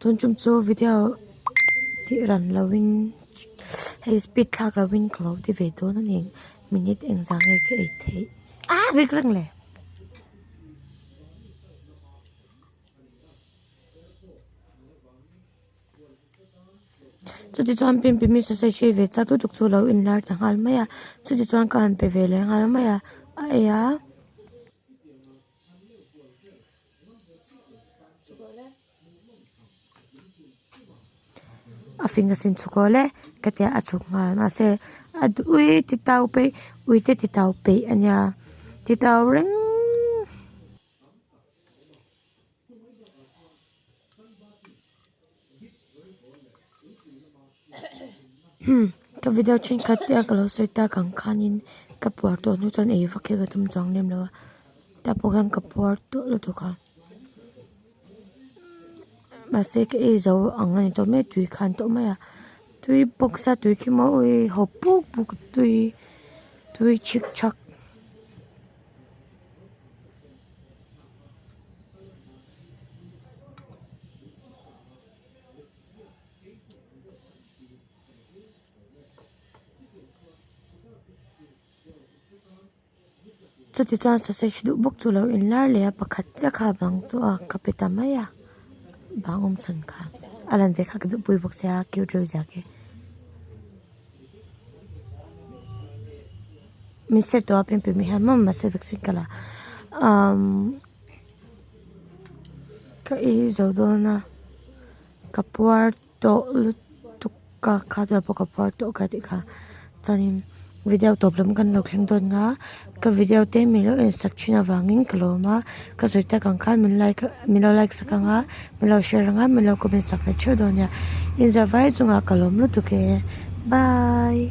Tun chum chu video tih ran lo in hei speed thlak lo in ka lo ti ve dawn a ni minute eng zah nge ka ei thei aa vek reng le. Chuti chuan Pimpi Miss-a sawiṭhi ve chak lutuk chu lo inlar ta nghal mai a, chuti chuan ka han pe ve leh nghal mai a, a ei a. A fing a sin chhuak awle ka tia a chhuk nghal mahse a duh ui ti tau phei ui te ti tau peih a nia ti tau reng. ka video thenkhat te a ka lo sawi ta kang khanin ka puar tawh hnu chuan ei vak hi ka tum chuang lem lo a tah pawh hian ka puar tawh lutuk a mahse ka ei zo ang a ni tawh mek tui khan tawh mai a tui box a tui khi mawi ui haw puk puk a tui tui chhik chak. Chuti chuan sausage duh bawk chu lo in lar leh a pakhat chiah kha a bang chu a ka pe ta mai a bang awmchhan kha a lan ve kha ka duh pui bawk sia cute reuh ziak e. min set tawh a pen pui mai hian maw mahse vaccine kal ah umm ka ei zo dawn a ka puar tawh lutuk ka khah deuh pawh ka puar tawh ka tih kha chuan in video tawp lam kan lo thleng dawn nga. Ka video te min lo en sak thin avangin ka lawm a ka sawi tak ang khan min like min lo like sak ang a min lo share ang a min lo comment sak leh theuh dawn nia inzawhvai chungah ka lawm lutuk e bye .